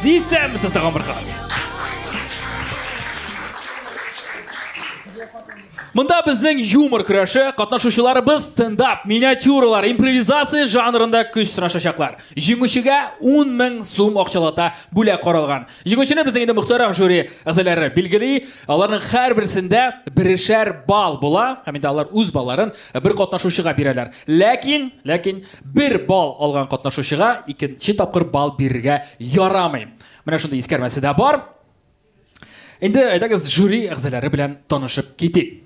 Зи Сэм с тагын бер кат. Монда безнең юмор көрәше катнашучыларыбыз стендап, миниатюралар, импровизация жанрында көч сынашачаклар. Җиңүчегә 10 мең сум акчалата бүләк каралган. Җиңүчене безнең инде мөхтәрәм жюри әгъзалары билгели. Аларның һәрберсендә берешәр балл була, һәм инде алар үз балларын бер катнашучыга бирәләр. Ләкин, ләкин Бер балл алган катнашучыга икенче тапкыр балл бирергә ярамый. Менә шундый искәрмәсе дә бар. Инде әйдәгез жюри әгъзалары белән танышып китик.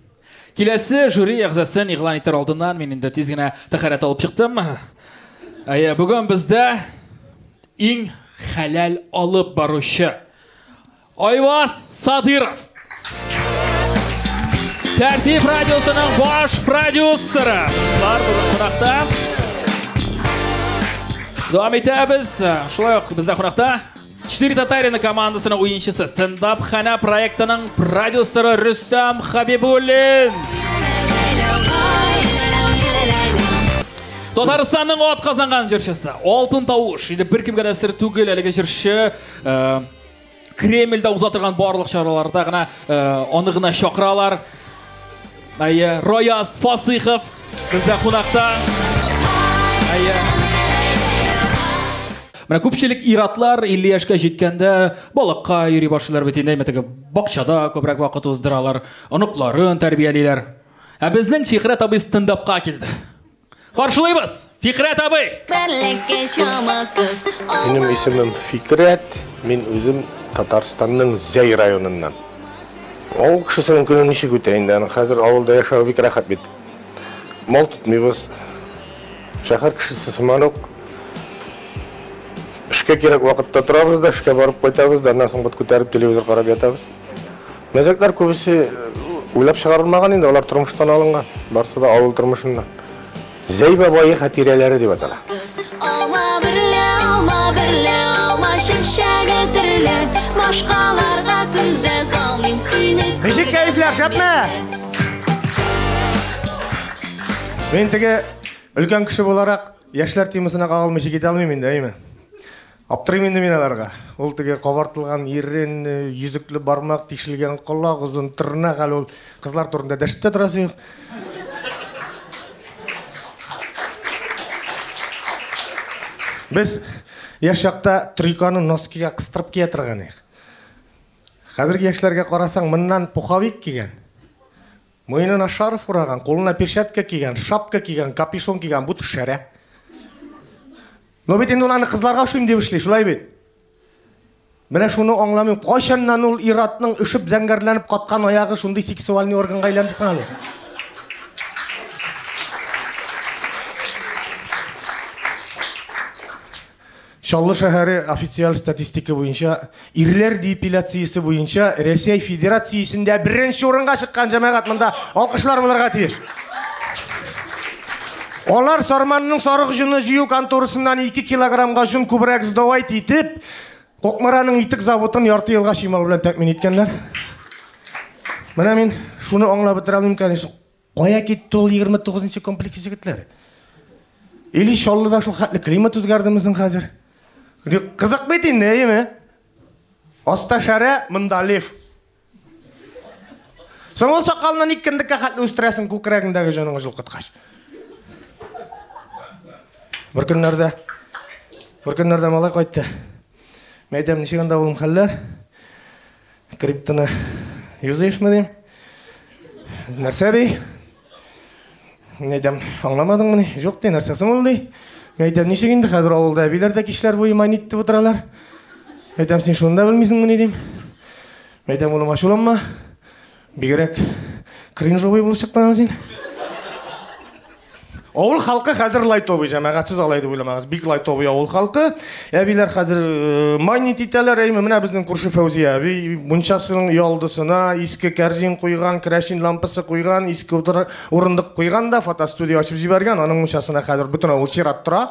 Киләсе жюри әгъзасын игълан итәр алдыннан мин инде тиз генә тәхәрәт алып чыктым. Әйе, бүген бездә иң хәләл алып баручы Айваз Садыров. Тәртип радиосының баш продюсеры. Бар бүгін қонақта. Дәвам итәбез. Шулай ук бездә қонақта Четыре татарина командасының уенчысы, стендап хана проектының продюсеры Рустам Хабибуллин. Татарстанның от казанган җырчысы, алтын тавыш, инде бер кемгә дә сер түгел әлеге җырчы, э, Кремльдә уза торган барлык чараларда гына э, аны гына чакыралар. Әйе, Рояз Фасыйхов бездә кунакта. Әйе. Менә күпчелек иратлар 50 яшькә җиткәндә балыкка йөри башлыйлар бит инде, мәтәгә бакчада күбрәк вакыт уздыралар, оныкларын тәрбиялиләр. Ә безнең Фикърәт абый стендапка килде. Каршылыйбыз! Фикърәт абый! Бәләкәй чамасыз Минем исемем Фикрәт, мин үзем Татарстанның Зәй районыннан. Авыл кешесенең көне ничек үтә инде, аны хәзер авылда яшәү бик рәхәт бит. Мал тотмыйбыз. Шәһәр кешесе сыман ук. Эшкә кирәк вакытта торабыз да, эшкә барып кайтабыз да, аннан соң бот күтәреп телевизор карап ятабыз. Мәзәкләр күбесе уйлап чыгарылмаган инде, алар тормыштан алынган. Барсы да авыл тормышыннан. Зәй бабайы хатирәләре дип атала. Алма берлә, алма берлә, алма чәчәге төрле, башкаларга күздә салмыйм сине. Ничек кәефләр, шәпме? Мин теге өлкән кеше буларак, яшьләр темасына кагылмыйча китә алмыйм инде, әйме? Аптырыйм инде мин аларга. Ул теге кабартылган ирен, йөзекле бармак, тишелгән колак, озын тырнак, әле ул кызлар турында дәшеп тә торасы юк. Без яшь чакта трюканы носкига кыстырып кия торган идек. Хәзерге яшьләргә карасаң, моннан пуховик кигән. Муенына шарф ураган, кулына перчатка кигән, шапка кигән, капюшон кигән, бу шәрә. Ну бит инде ул аны кызларга ошыйм дип эшли, шулай бит. Менә шуны аңламыйм, кайчаннан ул иратның өшеп зәңгәрләнеп каткан аягы шундый сексуальный органга әйләнде соң әле? Чаллы шәһәре официаль статистика буенча ирләр депиляциясе буенча Рәсәй Федерациясендә беренче урынга чыккан җәмәгать монда алкышлар булырга тиеш. Алар Сарманның сарык җоны җыю конторасыннан 2 килограммга җон күбрәк сдавать итеп, Кокмараның итек заводын ярты елга чимал белән тәэмин иткәннәр. Менә мин шуны аңлап бетерә алмыйм, конечно. Кая китте ул 29 нчы комплекс җегетләре? Или Чаллыда шул хәтле климат үзгәрдеме соң хәзер? Кызык бит инде, әйеме? Аста шәрә, монда лев. Соң ул сакалны ник кендеккә хәтле үстерәсең күкрәгеңдәге җаның җылкыткач? Бер көннәрдә бер көннәрдә малай кайтты. Мәйдәм ничек анда улым хәлләр? Криптоны юзаешмы дим? Нәрсә ди? Мин әйтәм, аңламадыңмы ни? Юк ди, нәрсә соң ул ди? Мин әйтәм, ничек инде хәзер авылда әбиләр дә кичләр буе мани итеп утыралар? Әйтәм, син шуны да белмисеңмени дим. Әйтәм, улым, ачуланма. Бигрәк кринжовый булып чыктың син. Авыл халкы хәзер лайтовый, җәмәгатьсез алай дип уйламагыз. Бик лайтовый авыл халкы. Әбиләр хәзер э, майнит итәләр, әйме, менә безнең күрше Фәүзия әби мунчасының ялдысына иске кәрзин куйган, керәшин лампасы куйган, иске урындык куйган да фотостудия ачып җибәргән. Аның мунчасына хәзер бөтен авыл чират тора.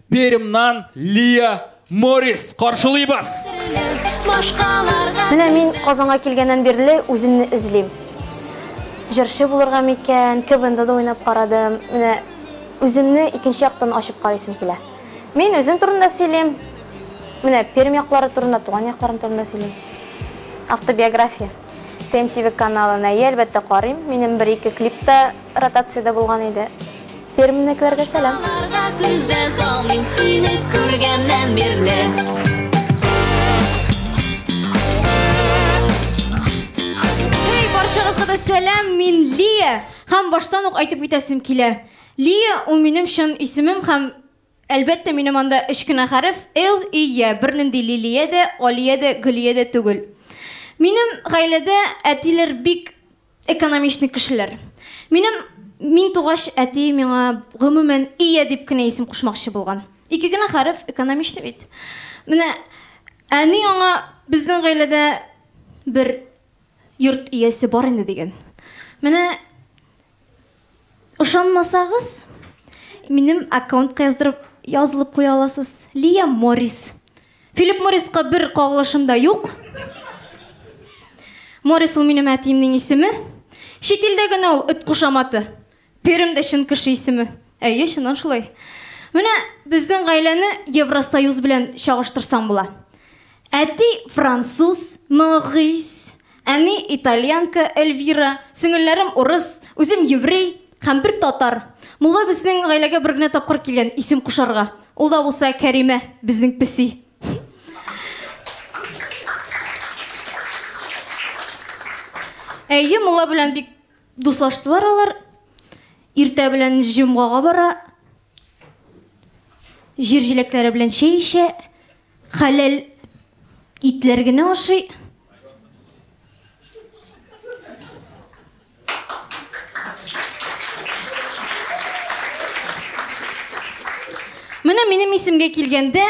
Пермьнан Лия Морис каршылыйбыз. Менә мин Казанга килгәннән бирле үземне эзлим. Җырчы булырга микән, КВНда да уйнап карадым. Менә үземне икенче яктан ачып карыйсым килә. Мин үзем турында сөйлим. Менә Пермь яклары турында, туган якларым турында сөйлим. Автобиография. ТМТВ каналына, әлбәттә, карыйм. Минем бер-ике клипта Ротациядә булган иде. Пермьнекеләргә сәлам! Башкаларга күз дә салмыйм сине күргәннән бирле. Сәлам, мин Лия һәм баштан ук әйтеп үтәсем килә. Лия ул минем чын исемем һәм Әлбәттә, минем анда өч кенә хәреф, л, и, я, бернинди Лилия дә, Алия дә, Гөлия дә түгел. Минем гаиләдә әтиләр бик экономичный кешеләр. Минем мин тугач, әти миңа, гомумән, Ия дип кенә исем кушмакчы булган. Ике генә хәреф, экономичный бит. Менә әни аңа безнең гаиләдә бер йорт иясе бар инде дигән. Менә Ышанмасагыз, минем аккаунтка яздырып язылып куя аласыз. Лия Моррис. Филипп Морриска бер кагылышым да юк. Моррис ул минем әтиемнең исеме. Чит илдә генә ул эт кушаматы. Пермдә чын кеше исеме. Әйе, чыннан шулай. Менә безнең гаиләне Евросоюз белән чагыштырсаң була. Әти француз, Моррис, Әни, итальянка, Эльвира, сеңелләрем, урыс, үзем, еврей һәм бер татар. Мулла безнең гаиләгә бер генә тапкыр килгән, исем кушарга. Ул да булса Кәримә, безнең песи. Әйе, мулла белән бик дуслаштылар алар. Иртә белән җомгага бара. Җир җиләкләре белән чәй эчә. Хәләл итләр генә ашый. Менә минем исемгә килгәндә,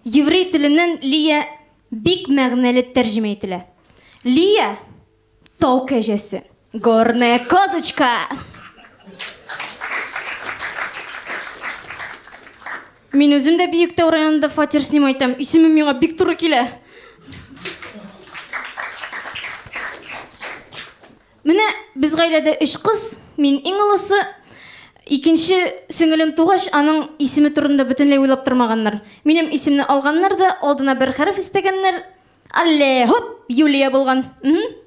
еврей теленнән Лия бик мәгънәле тәрҗемә ителә. Лия, Тау кәҗәсе. Горная козочка. Мин үзем дә Биектау районында фатир снимай итәм. Исемем миңа бик туры килә. Менә без гаиләдә өч кыз, мин иң олысы. Икенче сеңелем тугач, аның исеме турында бөтенләй уйлап тормаганнар. Минем исемне алганнар да, алдына бер хәреф истәгәннәр, Алле, һоп, Юлия булган. Мм.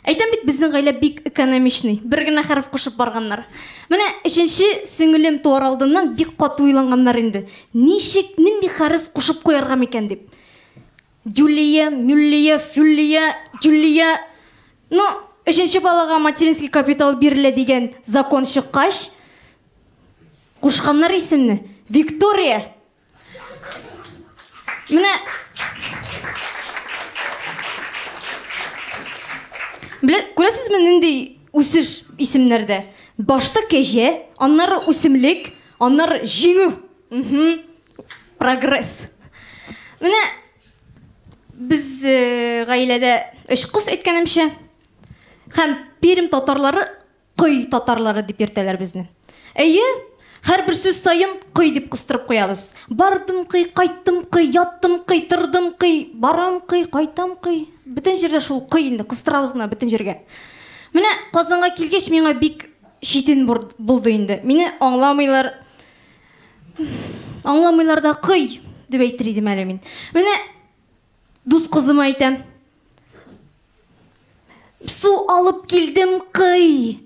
Әйтәм бит, безнең гаилә бик экономичный. Бер генә хәреф кушып барганнар. Менә өченче сеңелем туар алдыннан бик каты уйланганнар инде. Ничек, нинди хәреф кушып куярга микән дип. Дюлия, Мюллия, Фюллия, Дюлия. Ну, өченче балага материнский капитал бирелә дигән закон чыккач, кушканнар исемне. Виктория! Менә Белә, күрәсезме нинди үсеш исемнәрдә? Башта кәҗә, аннары үсемлек, аннары җиңү. Угу. Прогресс. Менә без э, гаиләдә өч кыз әйткәнемчә һәм Пермь татарлары Кой татарлары дип йөртәләр безне. Әйе, һәрбер сүз саен кой дип кыстырып куябыз. Бардым кый, кайттым кый, яттым кый, тордым кый, барам кый, кайтам кый. Бөтен җирдә шул кый инде, кыстырабыз гына бөтен җиргә. Менә Казанга килгәч миңа бик читен булды инде. Мине аңламыйлар. Аңламыйлар да кый дип әйтер идем әле мин. Менә Дус кызыма әйтәм. Су алып килдем, кый.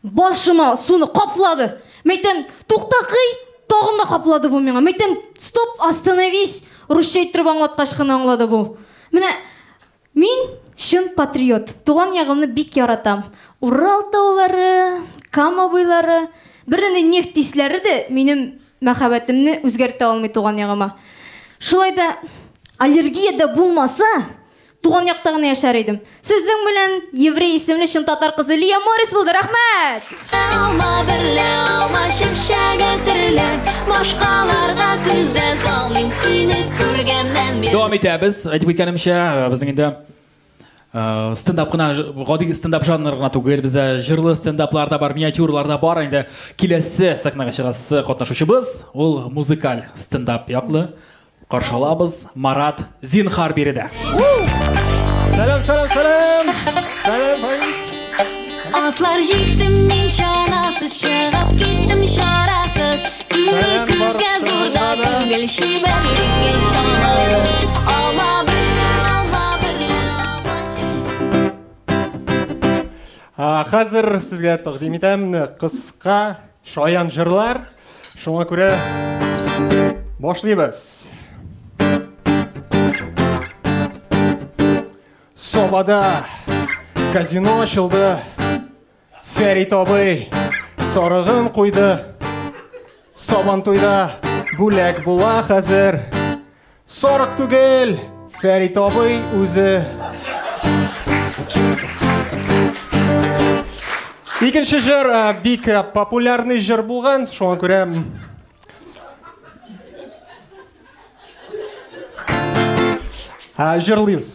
Башыма суны каплады. Мәйтәм, тукта кый, тагын да каплады бу миңа. Мәйтәм, стоп, остановись. Русча әйттереп аңлаткач кына аңлады бу. Менә мин чын патриот. Туган ягымны бик яратам. Урал таулары, Кама буйлары, бер нефть тисләре дә минем Мәхәббәтемне үзгәртә алмый туган ягыма. Шулай да аллергия дә булмаса, туган якта гына яшәр идем. Сезнең белән еврей исемле чын татар кызы Лия Морис булды. Рәхмәт! Алма берлә алма чәчәге төрле, башкаларга күз дә салмыйм сине күргәннән бир. Дәвам итәбез. Әйтеп киткәнемчә, безнең инде стендап кына гади стендап жанры гына түгел бездә җырлы стендаплар да бар миниатюралар да бар инде киләсе сәхнәгә чыгасы катнашучыбыз ул музыкаль стендап яклы каршы алабыз марат зинхар биредә сәлам сәлам сәлам сәлам атлар җиктем мин чанасыз чыгып киттем чарасыз Хәзер сезгә тәкъдим итәм кыска шаян җырлар. Шуңа күрә башлыйбыз. Собада казино ачылды. Фәрит абый сарыгын куйды Сабан туйда бүләк була хәзер Сарык түгел Фәрит абый үзе Икенче җыр э, бик э, популярный җыр булган, шуңа күрә э, җырлыйбыз.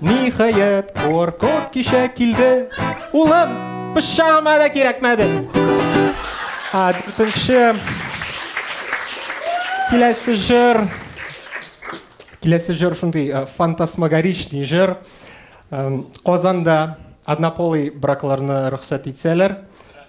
Ниһаять, куаркот кичә килде. Улым, пычагыма да кирәкмәде. А, дүртенче. Киләсе җыр. Киләсе җыр шундый э, фантасмагоричный җыр. Казанда однополый бракларны рөхсәт итсәләр,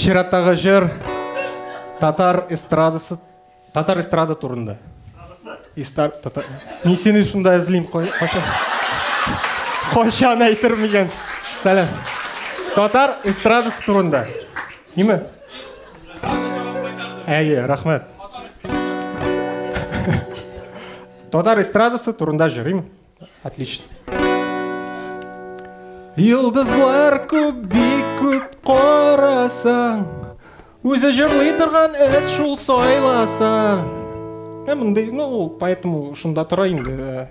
Чираттагы җыр татар эстрадасы татар эстрада турында. Истар татар. Мин сине шунда эзлим кайчан. Кайчан әйтермен икән? Сәлам. Татар эстрадасы турында. Ниме? Әйе, рәхмәт. Татар эстрадасы турында җырыйм. Отлично. Йылдызлар күп, бик күп карасаң, үзе җырлый торган эз шул сайласаң. Ә мондый, ну, поэтому шунда тора инде.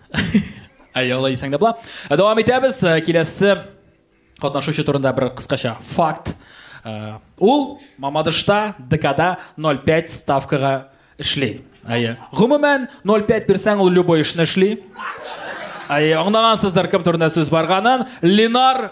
Әй, алай дисәң дә була. Ә дәвам итәбез. Ә, Киләсе катнашучы турында бер кыскача факт. Ә, Ул Мамадышта ДКда 0,5 ставкага эшли. Әйе. Гомумән 0,5 бирсәң, ул любой эшне эшли. Әйе, аңлагансыздыр кем турында сүз барганын. Ленар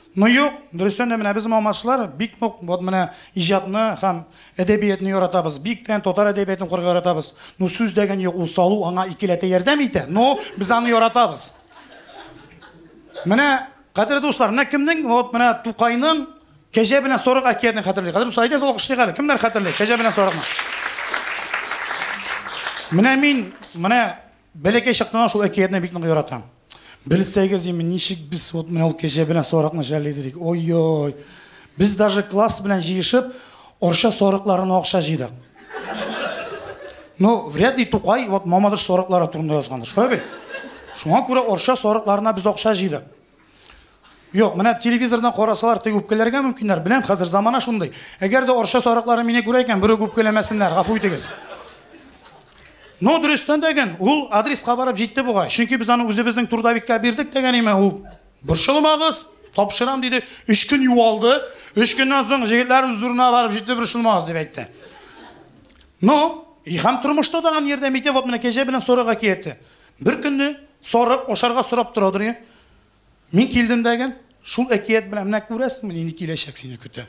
Ну юк, дөрестән дә менә без мамашлар бик нык вот менә иҗатны һәм әдәбиятны яратабыз, бик тә татар әдәбиятын укырга яратабыз. Ну сүз дәгән юк, ул салу аңа икеләтә ярдәм итә, но без аны яратабыз. Менә, кадерле дуслар, менә кемнең вот менә Тукайның Кәҗә белән сорык әкиятен хәтерли. Кадерле дуслар, әйдәгез алкышлыйк әле, кемнәр хәтерли Кәҗә белән сорыкны? Менә мин, менә Бәләкәй чактан ук шул әкиятне бик нык яратам. Белсәгез име, ничек без вот менә ул кәҗә белән сарыкны жәлли идек. Ой-ой. Без даже класс белән җыешып, Орча сарыкларына акча җыйдык. Ну, вряд ли Тукай вот Мамадыш сарыклары турында язгандыр, шулай бит? Шуңа күрә Орча сарыкларына без акча җыйдык. Юк, менә телевизордан карасалар, теге үпкәләргә мөмкиннәр. Беләм, хәзер замана шундый. Әгәр дә орша сарыклары мине күрә икән, берүк үпкәләмәсеннәр, гафу итегез. Но дөрестән дә ген, ул адреска барып җитте бугай. Чөнки без аны үзебезнең трудовикка бирдек дигән име ул. Борчылмагыз, тапшырам диде. Өч көн юалды. Өч көннән соң җегетләр үзләренә барып җитте, борчылмагыз дип әйтте. Но, и һәм тормышта да аны ярдәм итә, вот менә кәҗә белән сорыга киетте. Беркөнне сарык ашарга сорап тора доры. Мин килдем дәген, шул әкият белән менә күрәсеңме нинди киләчәк сине көтә.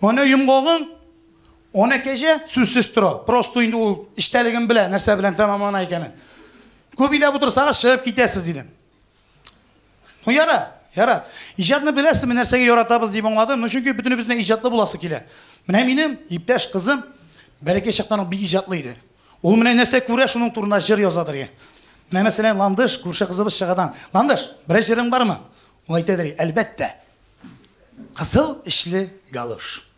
Ана йомгагың, ана кәҗә сүзсез тора. Просто инде ул эчтәлеген белә, нәрсә белән тәмамлана икәнен. Күп иләп утырсагыз, чыгып китәсез, дидем. Ну, яра, яра. Иҗатны беләсезме, нәрсәгә яратабыз дип аңладым. Ну, чөнки бөтенебезне иҗатлы буласы килә. Менә минем иптәш кызым бәләкәй чактан ук бик иҗатлы иде. Ул менә нәрсә күрә, шуның турында җыр яза дигән. Менә мәсәлән, Ландыш күрше кызыбыз чыгадан. Ландыш, берәр җырың бармы? Ул әйтә дигән, әлбәттә. Кызыл эчле галош.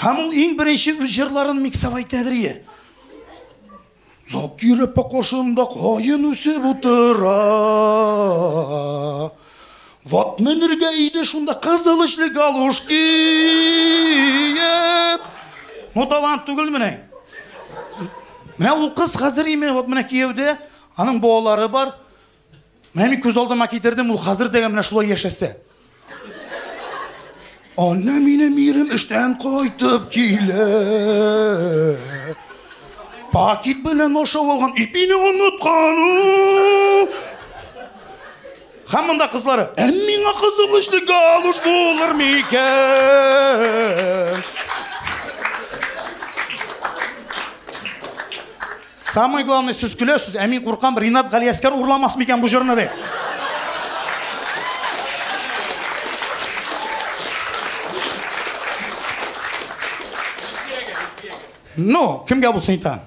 Һәм ул иң беренче үз җырларын миксовай тәдрие. Зак йөреп покошында каен үсеп утыра. Ват менергә иде шунда кызыл эчле галуш киеп. Ну талант түгел менә. Менә ул кыз хәзер име, вот менә кияүдә, аның балалары бар. Менә мин күз алдыма китердем, ул хәзер дә менә шулай яшәсә. Анна минем ирем эштән кайтып килә. Пакет белән ашап алган ипине оныткан. Һәм монда кызлары, ә миңа кызыл эшле галуш булыр микән? Самый главный сез көләсез, ә мин куркам, Ринат Галиәскәр урламас микән бу җырны дип. Ну, кемгә булсын итә?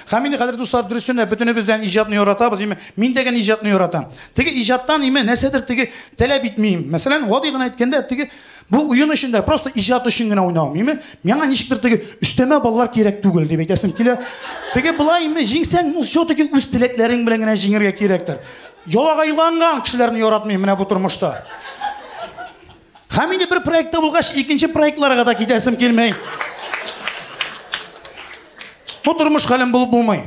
Һәм инде хәзер дуслар дөресен дә бөтенебездән иҗатны яратабыз, име? Мин дә генә иҗатны яратам. Теге иҗаттан име нәрсәдер теге таләп итмим. Мәсәлән, гади гына әйткәндә, теге Бу уен өчен дә, просто иҗат өчен генә уйнау. Миме, миңа ничектер теге өстәмә баллар кирәк түгел дип әйтәсем килә. Теге былай инде җиңсәң, ну все-таки үз теләкләрең белән генә җиңергә кирәктер. Ялагайланган кешеләрне яратмыйм менә бу тормышта. Һәм инде бер проектта булгач, икенче проектларга да китәсем килмәй. Бу тормыш хәлем булып булмый.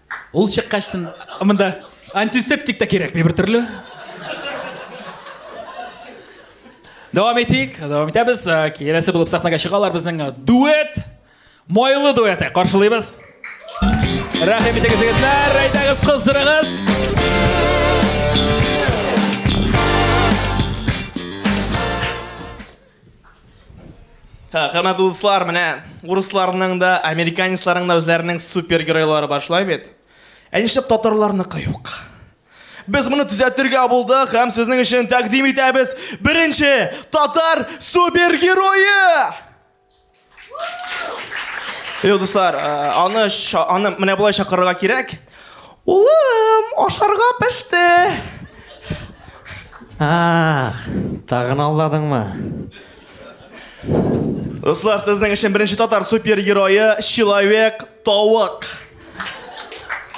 Ул чыккач сон, монда антисептик та кирәкми бер төрле. Дәвам итик, дәвам итәбез. Киләсе булып сахнага чыгалар безнең дуэт, майлы дуэты каршылыйбыз. Рәхим итегез, егетләр, әйдәгез, кыздырыгыз. Хөрмәтле дуслар, менә урысларның да, американецларның да үзләренең супергеройлары бар, шулай бит? Ә нишләп татарларныкы юк? Без моны төзәтергә булдык һәм сезнең өчен тәкъдим итәбез беренче татар супергерое! Юк, дуслар, э, аны аны менә болай чакырырга кирәк. Улым, ашарга пеште. Ах, тагын алдадыңмы? Дуслар, сезнең өчен беренче татар супергерое Человек Тавык.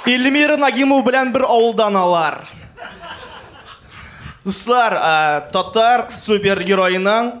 Эльмира Нагимов белән бер авылдан алар. Дуслар, э, татар супергероеның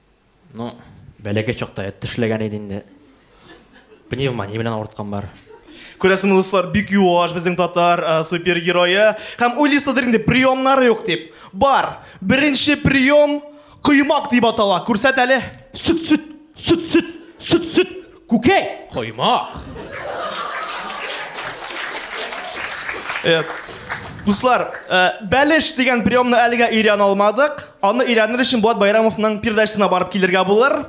Ну, бәләкәй чакта эт тешләгән иде инде. Пневмония белән авырткан бар. Күрәсең, дуслар, бик юаш безнең татар ә, супергерое. Һәм уйлыйсыздыр инде, приемнары юк дип. Бар. Беренче прием коймак дип атала. Күрсәт әле. Сөт, сөт, сөт, сөт, сөт, сөт. Күкәй! Коймак! Э, дуслар, э, бәлеш дигән приемны әлегә өйрәнә алмадык. Аны өйрәнер өчен Булат Байрамовның передачасына барып килергә булыр.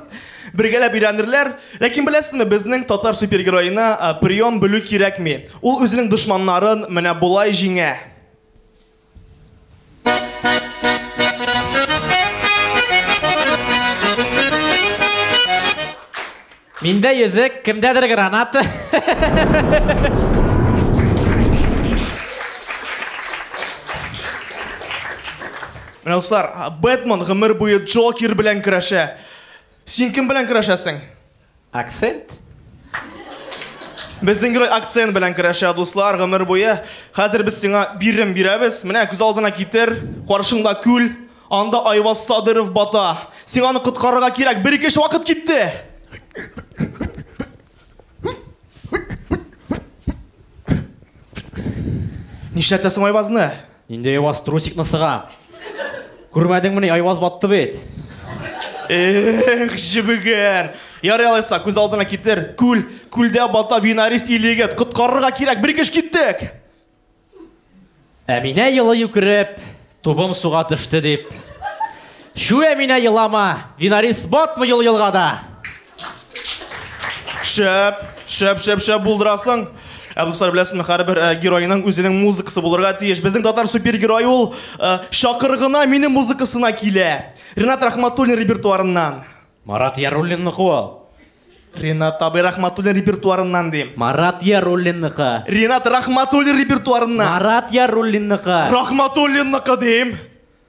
Бергәләп өйрәнерләр. Ләкин беләсезме, безнең татар супергероена э, прием белү кирәкми. Ул үзенең дошманнарын менә болай җиңә. Миндә йөзек, кемдәдер граната. Менә дуслар, Бэтмен гомер буе Джокер белән көрәшә. Син кем белән көрәшәсең? Акцент? Безнең герой акцент белән көрәшә, дуслар, гомер буе. Хәзер без сиңа бирем бирәбез. Менә күз алдына китер, каршыңда күл, анда Айваз Садыров бата. Сиңа аны коткарырга кирәк, бер-ике эш вакыт китте. Нишләтәсең Айвазны? Нинди Айваз трусикны сыга? Күрмәдеңмени, Айваз батты бит. Эх, җебегән. Ярый алайса, күз алдына китер. Күл, күлдә бата винарис или егет. Коткарырга кирәк, бер кеш киттек. Әминә елы юкереп, тубым суга төште дип. Чү, Әминә елама, винарис батмы юл елгада. Шәп, шәп, шәп, шәп булдырасың. Ә дуслар беләсезме, һәрбер э, геройның үзенең музыкасы булырга тиеш. Безнең татар супергерой ул э, шакыргына минем музыкасына килә. Ренат Рахматуллин репертуарыннан. Марат Яруллинны куал. Ренат абый Рахматуллин репертуарыннан дим. Марат Яруллинныкы. Ренат Рахматуллин репертуарыннан. Марат Яруллинныкы. Рахматуллинныкы дим.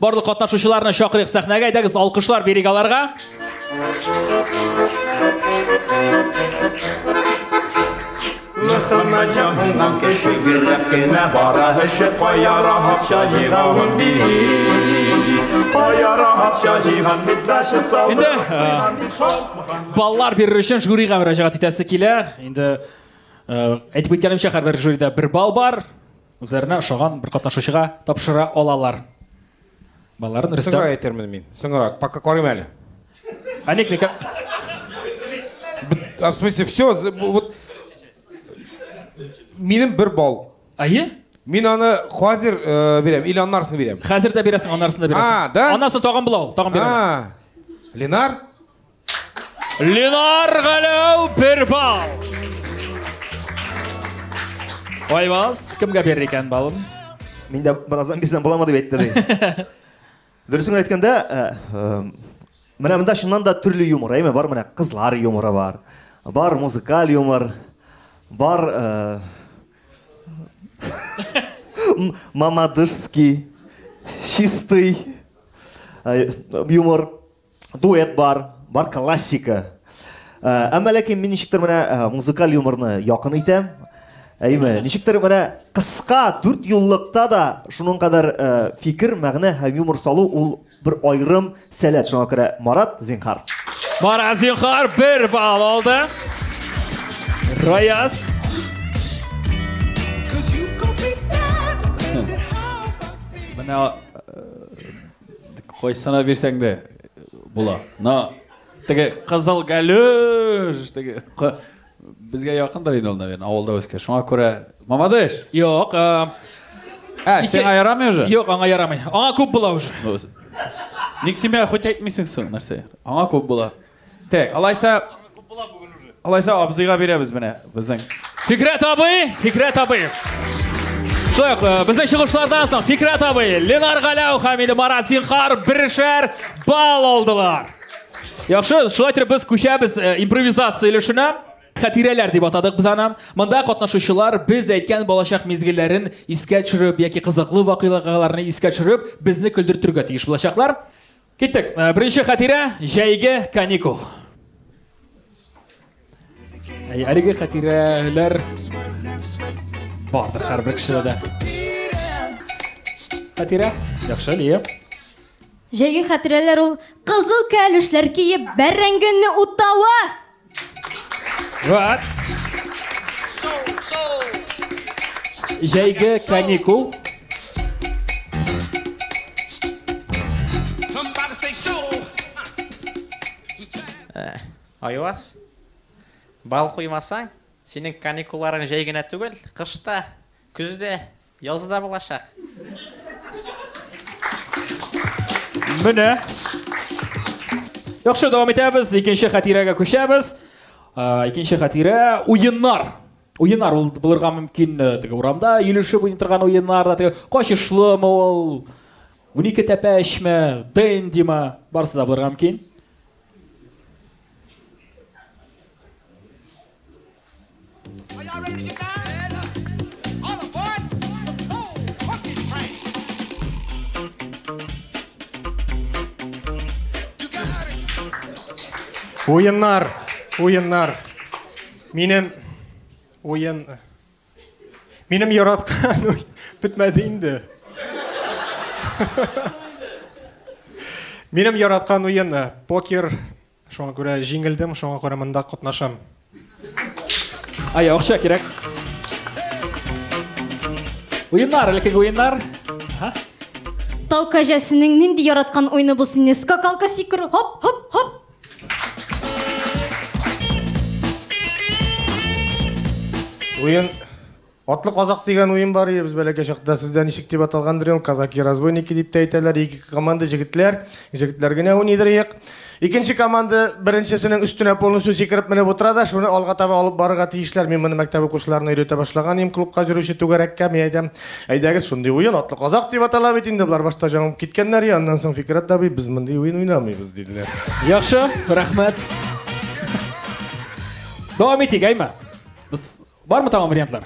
Барлык катнашучыларны чакырыйк сәхнәгә, әйдәгез алкышлар бирик аларга. Мөхәммәд җан булган кеше гөрләп кенә бара эше кая рахатча җыйгавын ди. Кая рахатча җыйган бит дәше салды. Инде баллар бирер өчен жюрига мөрәҗәгать итәсе килә. Инде әйтеп үткәнемчә һәрбер жюрида бер балл бар. Үзләренә ошаган бер катнашучыга тапшыра алалар. Балаларын Рөстәм. Соңрак әйтермен мин. Соңрак. Пока карыйм әле. А ник никак? А в смысле, все, вот... Минем бер бал. Ае? Мин аны хәзер э, бирәм, или аннарсын бирәм. Хәзер дә бирәсең, аннарсын да бирәсең. А, да? Аннарсын тагын була ул, тагын бирәм. А, Ленар? Ленар Галәү бер балл. Айваз, кемгә бирер икән балын? Мин дә бераздан бирсәм буламы дип әйтте ди. Дөресен әйткәндә, э, э, менә монда чыннан да төрле юмор, әйме, бар менә кызлар юморы бар. Бар музыкаль юмор, бар э, мамадышский, чистый юмор. дуэт бар, бар классика. Әмма ләкин мин ничектер менә музыкаль юморны якын итәм. Әйме, ничектер менә кыска дүрт юллыкта да шуның кадәр фикер, мәгънә һәм юмор салу ул бер айрым сәләт. Шуңа күрә Марат, зинхар. Марат, зинхар, бер балл алды. Раяз. Менә Кайсына бирсәң дә була. На теге кызыл галюш теге безгә якындыр инде ул, наверное, авылда үскән. Шуңа күрә Мамадыш. Юк. Ә, сиңа ярамый уже? Юк, аңа ярамый. Аңа күп була уже. Ник симә хоть әйтмисең соң нәрсә? Аңа күп була. Так, алайса, алайса абзыйга бирәбез менә безнең. Фикрәт абый, Фикрәт абый. Шулай ук э, безнең чыгышлардан соң Фикрәт абый, Ленар Галәү һәм инде Марат Зинхар берешәр балл алдылар. Яхшы, шулай итеп без күчәбез э, импровизация өлешенә. Хәтирәләр дип атадык без аны. Монда катнашучылар без әйткән балачак мизгелләрен искә төшереп яки кызыклы вакыйгаларны искә төшереп, безне көлдертергә тиеш булачаклар. Киттек. Э, беренче хәтирә, җәйге каникул. Әй, әлеге хәтирәләр бардыр һәрбер кешедә дә. Хәтирә, яхшы, Лия. Җәйге хәтирәләр ул кызыл кәлүшләр киеп бәрәңгене утавы. Вот. Җәйге каникул. Э, Айвас, бал куймасаң, синең каникулларың җәй генә түгел, кышта, көздә, Язы да булачак. Менә. Яхшы, дәвам итәбез. Икенче хатирәгә күчәбез. Икенче хатирә уеннар. Уеннар ул булырга мөмкин э, теге урамда йөрүшеп уйный торган уеннар да теге качышлымы ул? Унике тәпәшме, дендима, барсы да булырга мөмкин. Уеннар, уеннар. Минем уен Минем яраткан уй бетмәде инде. Минем яраткан уен покер Шуңа күрә җиңелдем, шуңа күрә монда катнашам. Ай, акча кирәк. Уеннар, элеккеге уеннар. Ага. Тау кәҗәсенең нинди яраткан уйны бу сине? Скакалка сикерү, хоп, хоп, хоп. Уен Атлы казак дигән уен бар иде без бәләкәй чакта. Сездә ничек дип аталган дөрем? Казаки-разбойники дип тә әйтәләр. Ике команда җегетләр. Җегетләр генә уйныйдыр иек. Икенче команда беренчесенең өстенә полностью сикереп менеп утыра да, шуны алга таба алып барырга тиешләр. Мин моны мәктәп укучыларына өйрәтә башлаган идем, клубка җөрүче түгәрәккә. Мин әйтәм, әйдәгез, шундый уен, атлы казак дип атала бит инде. Болар башта җамып киткәннәр и аннан соң Фикерәт абый, без мондый уен уйнамыйбыз, диделәр. Яхшы, рәхмәт. Дәвам итик, әйме? Без Бармы тагын вариантлар?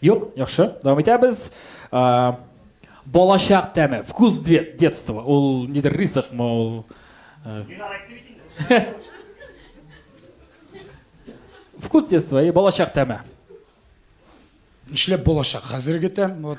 Юк, яхшы. Дәвам итәбез. Ә, балачак тәме, вкус детства. Ул нидер ризыкмы ул? Ә... вкус детства и балачак тәме. Нишләп балачак? Хәзерге тәм. Вот.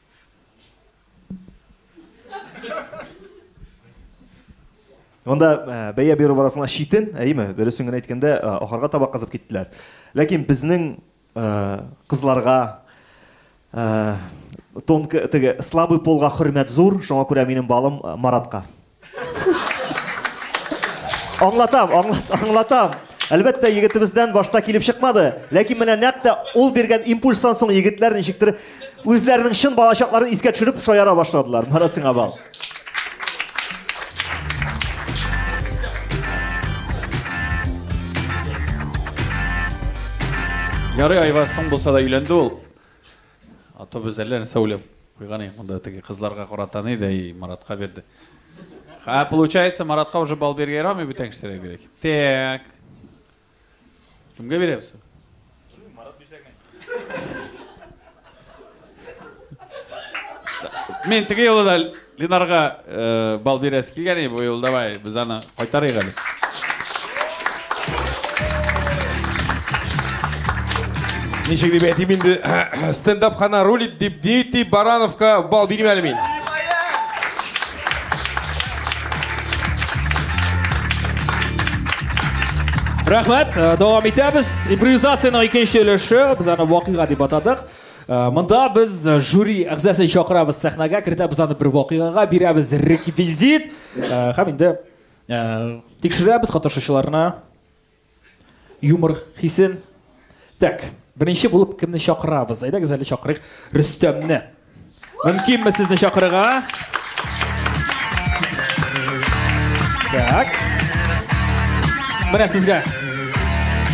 Монда э, бәя бирү барасына читен, әйеме? Дөресен генә әйткәндә, э, ахырга таба кызып киттеләр. Ләкин безнең э, кызларга тонкы теге слабый полга хөрмәт зур, шуңа күрә минем балым Маратка. Аңлатам, аңлатам. Әлбәттә, егетебездән башта килеп чыкмады. Ләкин менә нәкъ тә ул биргән импульстан соң егетләр ничектер үзләренең чын балачакларын искә төшереп шаяра башладылар. Марат сиңа бал. Ярый, Айваз, соң булса да өйләнде ул. Автобус әллә нәрсә уйлап куйган инде монда теге кызларга карата ни дә и Маратка бирде. Ха, получается, Маратка уже бал биргә ярамый бүтән кешеләргә бирәк. Так. Кемгә бирәбез? Марат бирсә генә. Мин теге юлы да Ленарга бал бирәсе килгән иде бу юлы, давай без аны кайтарыйк әле. Ничек дип әйтим инде, стендап хана рулит дип Дмитрий Барановка бал бирим әле мин. Рәхмәт, дәвам итәбез. Импровизациянең икенче өлеше, без аны вакыйга дип атадык. Э, монда без э, жюри әгъзасын чакырабыз сәхнәгә кертәбез аны бер вакыйгага бирәбез реквизит э, һәм инде тикшерәбез катнашучыларны юмор хисен так беренче булып кемне чакырабыз әйдәгез әле чакырыйк рөстәмне Мөмкинме сезне чакырырга? Так. Менә сезгә.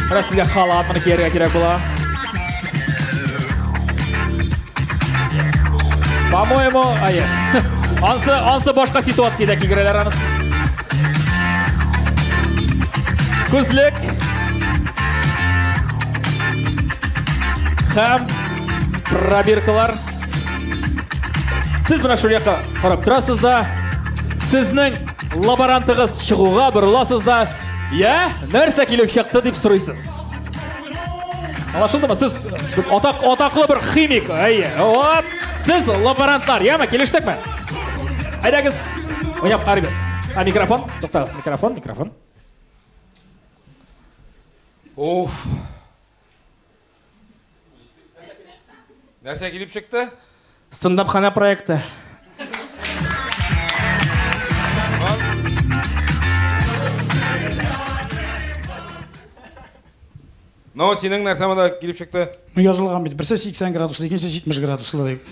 Менә сезгә халат моны кияргә кирәк була. По-моему, ай. Ансы, ансы башка ситуациядә кигерәләр аныс. Күзлек. Хәм пробиркалар. Сез менә шул якка карап торасыз да, сезнең лаборантыгыз чыгуга борыласыз да, я, нәрсә килеп чыкты дип сорыйсыз. Аңлашылдымы? Сез атак атаклы бер химик. Әйе. Вот. Сез лаборантлар, яме килештекме? Әйдәгез. Уйнап карыйбыз. А микрофон? Туктагыз, микрофон, микрофон. Уф. Нәрсә килеп чыкты? Стендапханә проекты. Но синең нәрсә монда килеп чыкты? Ну язылган бит. Берсе 80 градуслы, икенчесе 70 градуслы дип.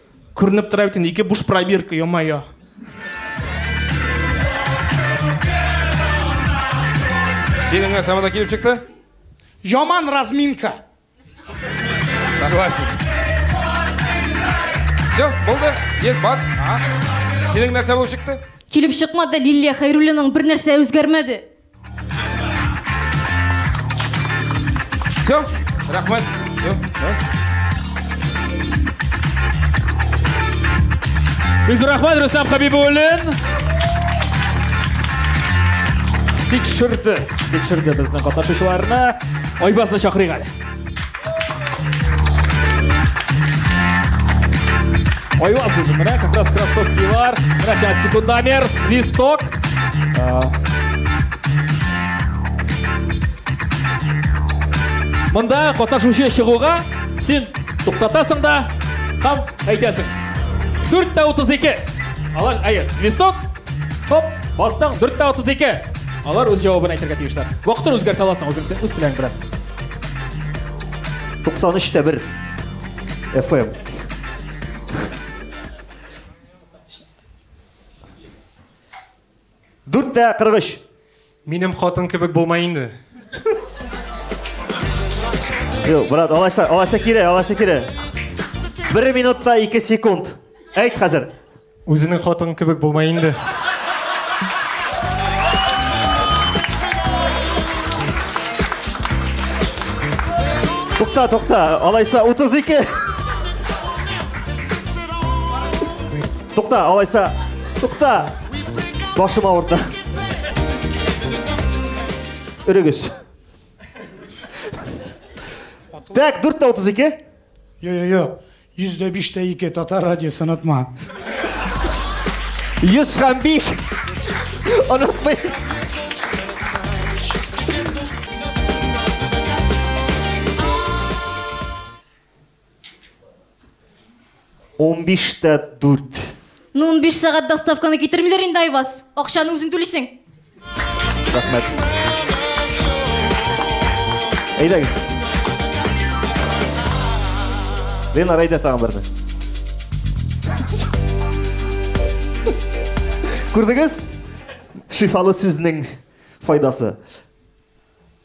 Күренеп тора бит инде, ике буш пробирка, йо-майо. Синең әсәбәдә килеп чыкты? Яман разминка. Согласен. Все, булды. Ел бар. Синең нәрсә булып чыкты? Килеп чыкмады, Лилия Хайруллинаның бер нәрсә үзгәрмәде. Все, рахмет. Все, да. Бик зур рәхмәт Рөстәм Хәбибуллин. Тикшерде, тикшерде безнең катнашучыларны. Айбазны чакырыйк әле. Ой, вас уже, да, как раз красотки вар. Сейчас, секундомер, свисток. А. Мында катнашучы чыгуга син туктатасың да һәм әйтәсең. 4 тә 32. Алар әйе, свисток. Хоп, бастың 4 тә 32. Алар үз җавабын әйтергә тиешләр. Вакытын үзгәртә аласың үзең, үз теләң белән. Туксан өч тә бер FM. Дүрт тә кырык өч. Минем хатын кебек булмай инде. Юк, брат, алайса, алайса кире, алайса кире. Бер минутта ике секунд. Әйт хәзер. Үзенең хатыны кебек булмай инде. Тукта, тукта, алайса 32. Тукта, алайса. Тукта. Башым авырды. Өрегез. Так, дүрт тә утыз ике. Йо, йо, йо. Йөз дә биш тә ике, татар радиосы, онытма. Йөз һәм биш, онытмый. Унбиш тә дүрт. Ну, унбиш сәгать доставканы китермиләр инде, Айваз. Акчаны үзең түлисең. Рәхмәт. Әйдәгез. Лена Райда тагын берне. Күрдегез? Шифалы сүзнең файдасы.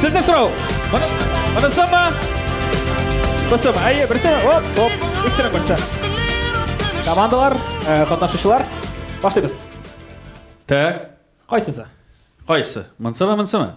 Сезне сорау. Моны, моны сама. Басым, әйе, берсе, оп, оп, иксенең берсе. Командалар, э, катнашучылар, башлыйбыз. Так, Кайсысы? кайсы? Монсымы, монсымы?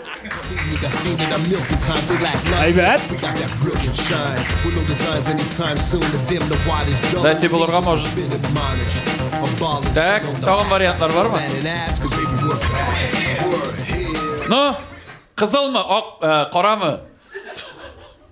Әйбәт. Дайте булырга может. Так, тагын вариантлар бармы? Ну, кызылмы, ак, э, карамы?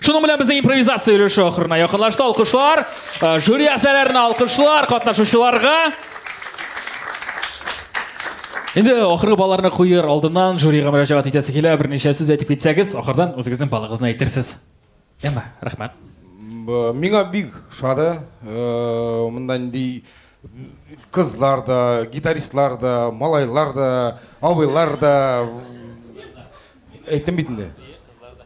Шуның белән безнең импровизация өлеше ахырына якынлашты. Алкышлар, э, жюри әгъзаларына алкышлар, катнашучыларга. Инде ахыргы балларны куер алдыннан жюрига мөрәҗәгать итәсе килә. Берничә сүз әйтеп китсәгез, ахырдан үзегезнең балыгызны әйтерсез. Әмма, рәхмәт. Миңа бик шады. Э, монда нинди кызлар да, гитаристлар да, малайлар да, абыйлар да. Әйтем бит инде.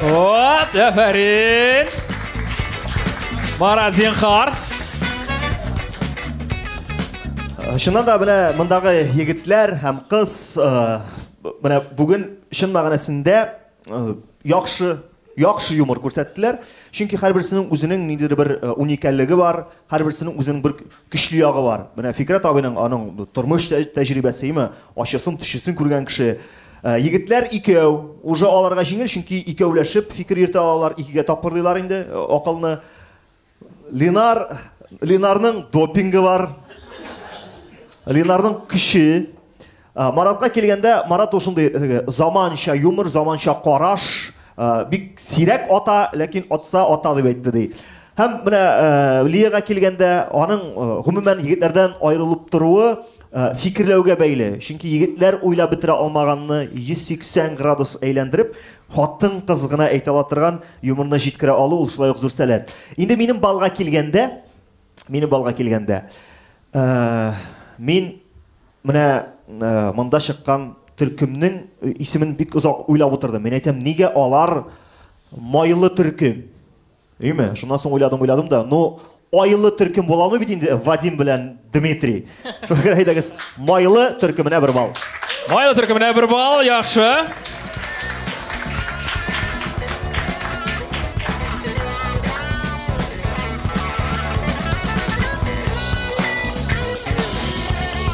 Вот, әфәрин! Мара, зинхар! Чыннан да менә мондагы егетләр һәм кыз менә бүген чын мәгънәсендә яхшы яхшы юмор күрсәттеләр. Чөнки һәрберсенең үзенең ниндидер бер уникальлеге бар, һәрберсенең үзенең бер көчле ягы бар. Менә Фикрәт абыйның аның тормыш тәҗрибәсе, ачысын, төчесен күргән кеше. Егетләр икәү, уже аларга җиңел, чөнки икәүләшеп фикер йөртә алалар, икегә тапкырлыйлар инде акылны. Ленар, Ленарның допингы бар. Ленарның көче. Маратка килгәндә, Марат ул шундый заманча юмор, заманча караш, бик сирәк ата, ләкин атса ата дип әйтте ди. Һәм менә Лиягә килгәндә, аның гомумән егетләрдән аерылып торуы, Э, фикерләүгә бәйле. Чөнки егетләр уйлап бетерә алмаганны 180 градус әйләндереп, хатын кыз гына әйтә ала торган юморны җиткерә алу ул шулай ук зур сәләт. Инде минем балга килгәндә, минем балга килгәндә, э, мин менә э, монда чыккан төркемнең исемен бик озак уйлап утырдым. Мин әйтәм, нигә алар майлы төркем? Өйме? Шуннан соң уйладым, уйладым да, ну, айлы төркем була алмый бит инде Вадим белән Дмитрий. Шуңа күрә әйдәгез, майлы төркеменә бер бал. Майлы төркеменә бер бал, яхшы.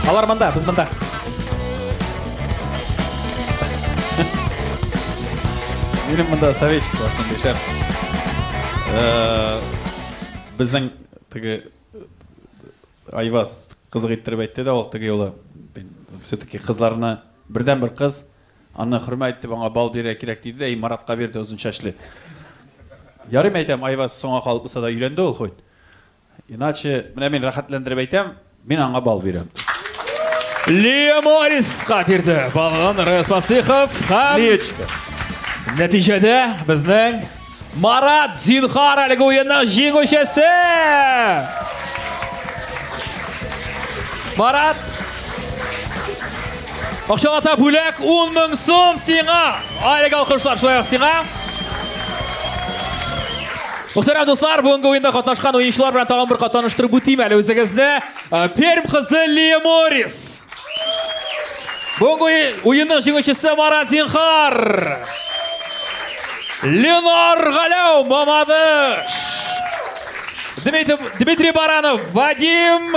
Алар монда, без монда. Минем монда советчик бар, шундый шәп. Безнең теге Айваз кызык иттереп әйтте дә ул теге юлы. Все-таки кызларны бердән бер кыз аны хөрмәт итеп аңа бал бирә кирәк диде дә и Маратка бирде озын чәчле. Ярыйм әйтәм, Айваз соңга калып булса да өйләнде ул хоть. Иначе, менә мин рәхәтләндереп әйтәм, мин аңа бал бирәм. Лия Мориска бирде балын Рәс Фасихов һәм Лиечка. Нәтиҗәдә безнең Марат Зинхар әлеге уенның җиңүчесе! Марат! Акчалата бүләк 10 мең сум сиңа. Айрек алкышлар шулай сиңа. Мөхтәрәм дуслар, бүгенге уенда катнашкан уенчылар белән тагын бер катнаштырып үтим әле үзегезне. Перм кызы Лия Морис. Бүгенге уенның җиңүчесе Марат Зинхар. Ленар Галәү Мамадыш. Дмитрий Баранов, Вадим